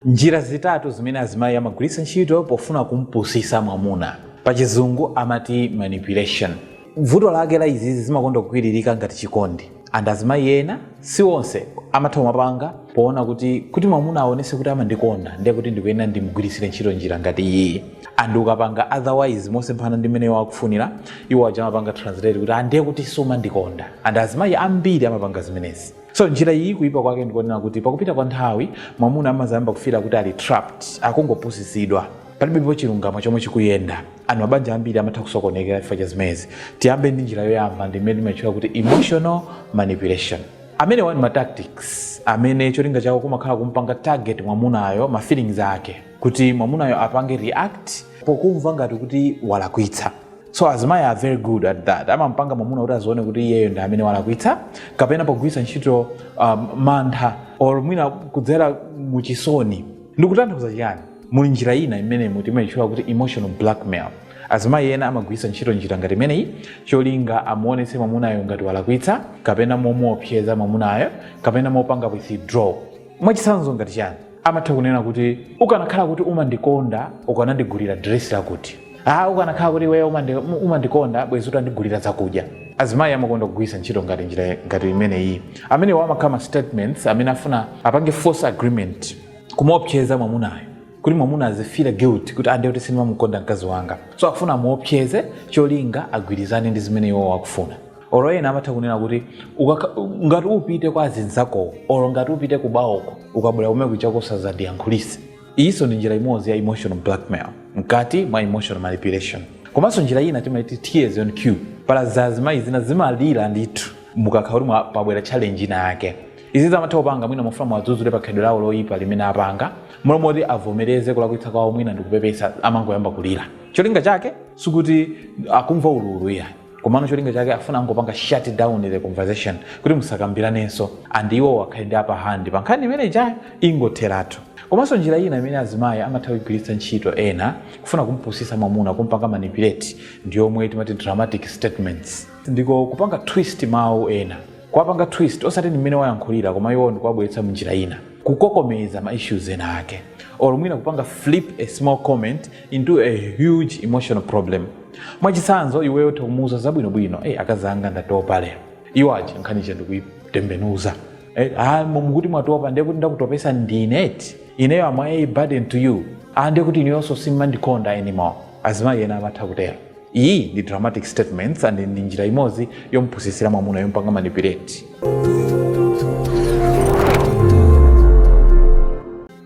Njira zitatu zimene azimayi amagwiritsa ntchito pofuna kumpusisa mwamuna. Pachizungu amati manipulation. Vuto lake la izizi zimakonda kugwiririka ngati chikondi and azimayi ena, si onse, amatha kumapanga poona kuti mwamuna aonese kuti amandikonda nde kuti ndikuyenera ndimugwiritsire ntchito njira ngati iyiyi and ukapanga otherwise mosemphana ndi mmene iwo akufunira, iwo aja amapanga translate kuti ah ndekuti sumandikonda and azimayi ambiri amapanga zimenezi. so njira iyi kuyipa kwake ndikonena kuti pakupita kwa nthawi mwamuna amazayamba kufira kuti ali trapped akungopusitsidwa palibepo chilungamo chomwe chikuyenda and mabanja ambiri amatha kusokonekera chifukwa cha zimezi tiyambe ndi njira yoyamba ndi imene timatchula kuti emotional manipulation amenewa ndi ma tactics amene cholinga chawo kumakhala kumpanga target mwamunayo ma feelings ake kuti mwamunayo apange react pokumva ngati kuti walakwitsa so azimayi are very good at that amampanga mwamuna kuti azione kuti iyeyo ndi amene walakwitsa kapena pogwiritsa ntchito um, mantha or mwina kudzera muchisoni ndikutanthauza chiyani muli njira ina imene timayitchula kuti emotional blackmail azimayi ena amagwiritsa ntchito njira ngati imeneyi cholinga amuonetse mwamunayo ngati walakwitsa kapena momuopseza mwamunayo kapena mopanga withdraw mwachitsanzo ngati chani amatha kunena kuti ukanakhala kuti umandikonda ukanandigulira diresi lakuti ah ukanakhala kuti iweyo umandi- um- umandikonda bwezi utandigulira zakudya azimayi amakonda kugwiritsa ntchito ngati njira ngati imeneyi amenewa amakhala ma statements amene afuna apange force agreement kumuopseza mwamunayo kuti mwamuna azifira guilt kuti ah nde kuti sindimamukonda mkazi wanga so afuna amuopseze cholinga agwirizane ndi zimene iwowo akufuna oro ena amatha kunena kuti ukakha- ngati upite kwa azinzakowo oro ngati upite kubawoko ukabwera kumeneko chako usazandiyankhulise iyinso ndi njira imodzi ya emotional blackmail mkati mwa emotional manipulation komanso njira ina timaiti tears on cue pali azimayi zina zimalira ndithu mukakha kuti mwa- pabwera challenge ina yake izi zamatha kupanga mwina mufuna muwadzudzule pa khalidwe lawo loyipa limene apanga m'malo moti avomereze kulakwitsa kwawo mwina ndikupepesa amangoyamba kulira cholinga chake sikuti akumva ululu iya komano cholinga chake afuna angopanga shut down the conversation kuti musakambiranenso and iwo akhale ndi upper hand pa nkhani imene ijayo ingotheratu komanso njira ina imene azimayi amatha kugwiritsa ntchito ena kufuna kumpusisa mwamuna kumpanga manipulate ndi yomwe timati dramatic statements ndiko kupanga twist mawu ena kuwapanga twist osati ndi mmene wayankhulira koma iwo ndikuwabweretsa mnjira ina kukokomeza ma issues ena ake or mwina kupanga flip a small comment into a huge emotional problem mwachitsanzo iweyo utha kumuuza zabwinobwino hey, akazanga ndatopa lero iwo aja nkhani ija ndikuitembenuza hey, ah, mukuti mwatopa ndiye kuti ndakutopesa ndine eti ineyo am a burden to you ah, ndiye kuti ineyonso simmandikonda anymore azimayi ena amatha kutero iyi ndi dramatic statements and ndi njira imodzi yompusitsira mwamuna yompanga manipulate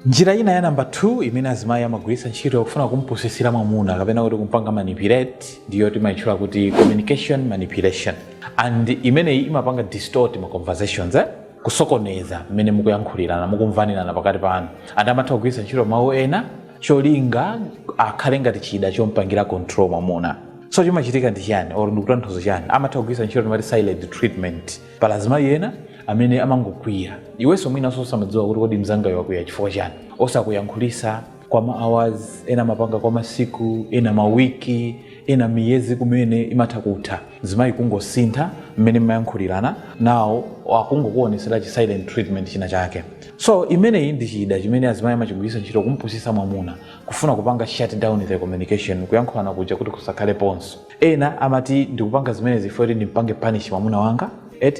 njira ina ya namba 2 imene azimayi amagwiritsa ntchito kufuna kumpusitsira mwamuna kapena kuti kumpanga manipulate ndiyo timayitchula kuti communication manipulation and imeneyi imapanga distort ma conversations eh? kusokoneza mmene mukuyankhulirana mukumvanirana pakati panu and amatha kugwiritsa ntchito mawu ena cholinga akhale ngati chida chompangira control mwamuna so chimachitika ndi chani or ndikutanthauza chani amatha kugwiritsa ntchito timati silent treatment pali azimayi ena amene amangokwiya iwenso mwinanso usamadziwa kuti kodi mzangayo wakwiya chifukwa chani osakuyankhulisa kwa ma hours ena amapanga kwa masiku ena mawiki ena miyezi kumene imatha kutha mzimayi kungosintha mmene mmayankhulirana nawo akungokuonesera chi silent treatment china chake so imeneyi ndi chida chimene azimayi amachigwiritsa ntchito kumpusisa mwamuna kufuna kupanga shut down the communication kuyankhulana kuja kuti kusakhaleponso Ena amati ndikupanga zimenezi chifukwa choti ndimpange punish mwamuna wanga,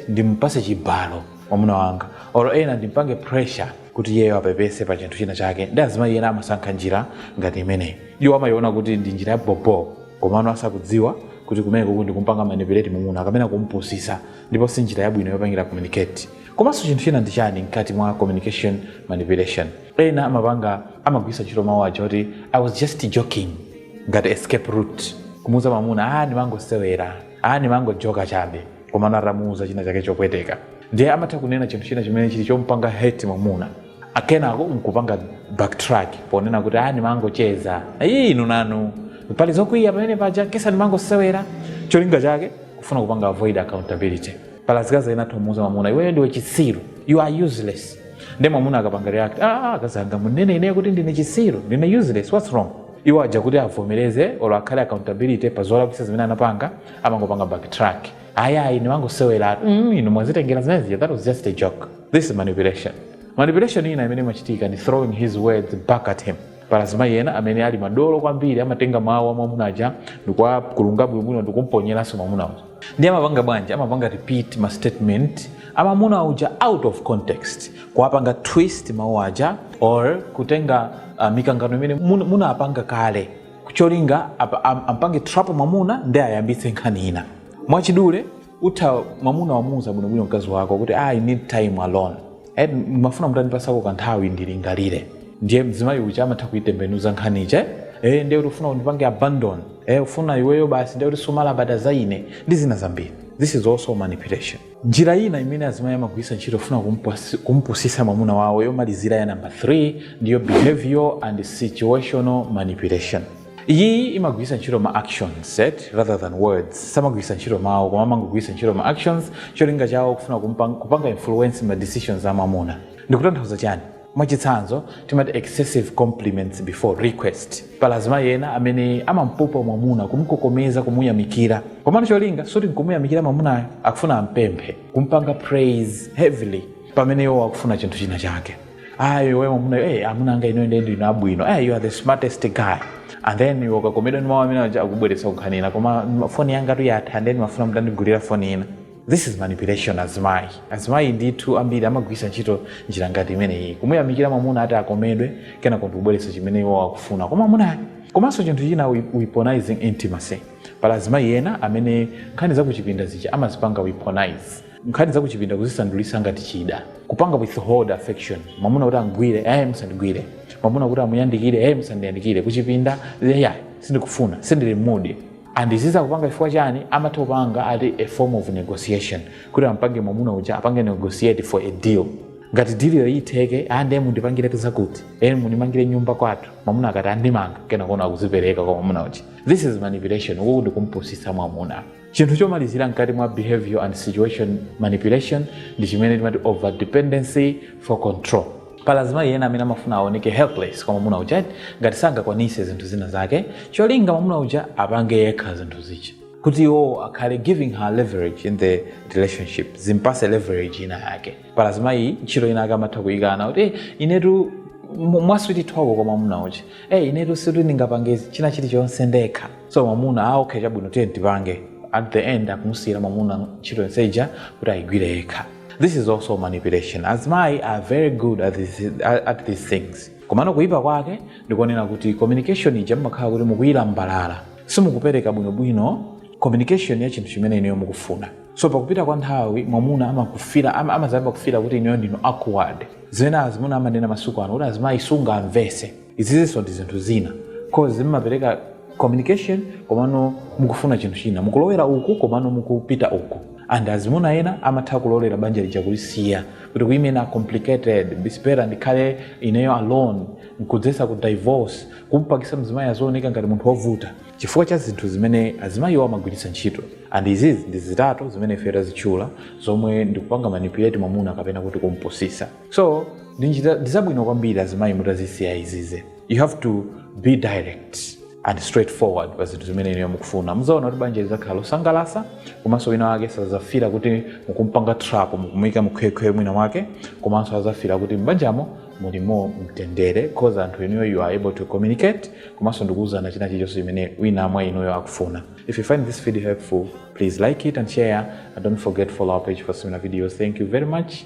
ndimpase chibalo mwamuna wanga or ena ndimpange pressure kuti iyeyo apepese pa chinthu china chake. Ndi azimayi ena amasankha njira ngati imeneyi. Iwo amayiona kuti ndi njira ya bobo komano asakudziwa kuti kumenekuku ndikumpanga manipulate mwamuna kapena kumpusisa ndipo si njira yabwino yopangira communicate. Komanso chinthu china ndi chani mkati mwa communication manipulation? ena amapanga amagwiritsa ntchito mawu aja kuti i was just joking ngati escape route kumuuza mwamuna a ndimangosewera a ndimangojoka chabe komano atamuuza china chake chopweteka ndiye amatha kunena chinthu china chimene chili chompanga hurt mwamuna akenako nkupanga backtrack ponena kuti a ndimangocheza iyi inu nanu pali zokwiya pamenepaja kesa ndimangosewera cholinga chake kufuna kupanga avoid accountability pali azikazi ena atha kumuuza mwamuna iweyo ndiwe chitsiru you are useless nde mwamuna akapanga react ah, ah akazi anga mukunena ineyo kuti ndine chisiru ndine useless what's wrong iwo aja kuti avomereze olo akhale accountability pa zolakwisa zimene anapanga amangopanga backtrack ayayi nimangoseweratu mm, inu mwazitengera zimenezija that was just a joke this is manipulation manipulation ina imene imachitika ndi throwing his words back at him pali azimayi ena amene ali madolo kwambiri amatenga mawu a mwamuna aja ndikuwakulunga bwinobwino ndikumponyeraso mwamuna uja ndiye amapanga bwanji amapanga repeat ma statement a mwamuna uja out of context kuwapanga twist mawu aja or kutenga uh, mikangano imene mun- munapanga kale cholinga apa- am- ampange trap mwamuna ndi ayambitse nkhani ina mwachidule utha mwamuna wamuuza bwinobwino mkazi wako kuti "Ah, i need time alone Eh, mmafuna mutandipasako kanthawi ndilingalire ndiye mzimayi uja amatha kuitembenuza nkhani ija eh, ndiye kuti ufuna undipange abandon eh, ufuna iweyo basi ndiye kuti sumalabada za ine ndi zina zambiri this is also manipulation njira ina imene azimayi amagwiritsa ntchito kufuna kumpusi- kumpusisa mwamuna wawo yomalizira ya namba 3 ndiyo behavior and situational manipulation iyi imagwiritsa ntchito ma actions rather than words samagwiritsa ntchito mawu koma amangogwiritsa ntchito ma actions cholinga chawo kufuna kumpa- kupanga influence ma decisions a mwamuna ndikutanthauza chani Mwachitsanzo, timati excessive compliments before request. Pali azimayi ena amene amampopa mwamuna, kumukokomeza, kumuyamikira. Komano cholinga sikuti nkumuyamikira mwamunayo, akufuna ampemphe, kumpanga praise heavily pamene iwowo akufuna chinthu china chake. Ah, iwe mwamunayo, hey, amuna anga inuyo ndiye ndinu abwino. Hey, you are the smartest guy. And then iwe ukakomedwa ndi mawu amene aja akubweretsa nkhani ina. Koma foni yangatu yatha, ndiye ndimafuna mutandigulira foni ina. this is manipulation azimayi azimayi ndithu ambiri amagwiritsa ntchito njira ngati imeneyi kumuyamikira mwamuna ati akomedwe kenako ndikubweretsa chimene iwo akufuna kwa mwamuna komanso chinthu china weaponizing intimacy pali azimayi ena amene nkhani zakuchipinda zija amazipanga weaponize nkhani zakuchipinda kuzisandulisa ngati chida kupanga withhold affection mwamuna kuti amugwire ayi musandigwire mwamuna kuti amuyandikire ayi musandiyandikire kuchipinda ayi sindikufuna sindili mu mood and izizi akupanga chifukwa chani amatha kupanga as a form of negotiation kuti ampange mwamuna uja apange negotiate for a deal ngati diliyo itheke nde mundipangire zakuti eni mundimangire nyumba kwathu mwamuna akati ah ndimanga kenako no akuzipereka kwa mwamuna uja this is manipulation uku ndi kumpusitsa mwamuna chinthu chomalizira mkati mwa behavior and situation manipulation ndi chimene timati over dependency for control Pali azimayi ena amene amafuna aoneke helpless kwa mwamuna uja ngati sangakwanise zinthu zina zake cholinga mwamuna uja apange yekha zinthu zija kuti iwowo akhale giving her leverage in the relationship zimpatse leverage ina yake pali azimayi ntchito ina yake amatha kuyikana kuti "Eh, inetu mu- mwa sweet talk kwa mwamuna uja hey, inetu sindingapange china chilichonse ndekha so mwamuna ah, okay chabwino tiye tipange at the end akumusiyira mwamuna ntchito yonse ija kuti ayigwire yekha this is also manipulation azimayi are very good at these, at these things komano kuyipa kwake ndikonena kuti communication ija mumakhala kuti mukuyilambalala simukupereka bwinobwino communication ya chinthu chimene inuyo mukufuna so pakupita kwa nthawi mwamuna amazayamba kufila kuti ineyo ndili awkward zimene azimuna amanena masiku ano kuti azimayi sungamvese izizinso ndi zinthu zina cause simupereka communication komano mukufuna chinthu china mukulowera uku komano mukupita uku and azimuna ena amatha kulolera banja lija kulisiya kuti you women are complicated it's better ndikhale ineyo alone nkudzetsa divorce kumpangisa mzimayi azioneka ngati munthu wovuta chifukwa cha zinthu zimene azimayiwo amagwiritsa ntchito and izizi ndi zitatu zimene ife tazitchula zomwe ndikupanga manipulate mwamuna kapena kuti kumpusisa so ndizabwino kwambiri azimayi mutazisiya izizi you have to be direct and straightforward pa zinthu zimene inuyo mukufuna muzaona kuti banja lizakhala losangalasa komanso wina wake sazafila kuti mukumpanga trap mukumuyika mukhwekhwe mwina wake komanso azafila kuti m'banjamo mulimo mtendere cause anthu inuyo you are able to communicate komanso ndikuwuzana china chilichonse chimene wina mwa inuyo akufuna if you find this video helpful please like it and share and don't forget to follow our page for similar videos thank you very much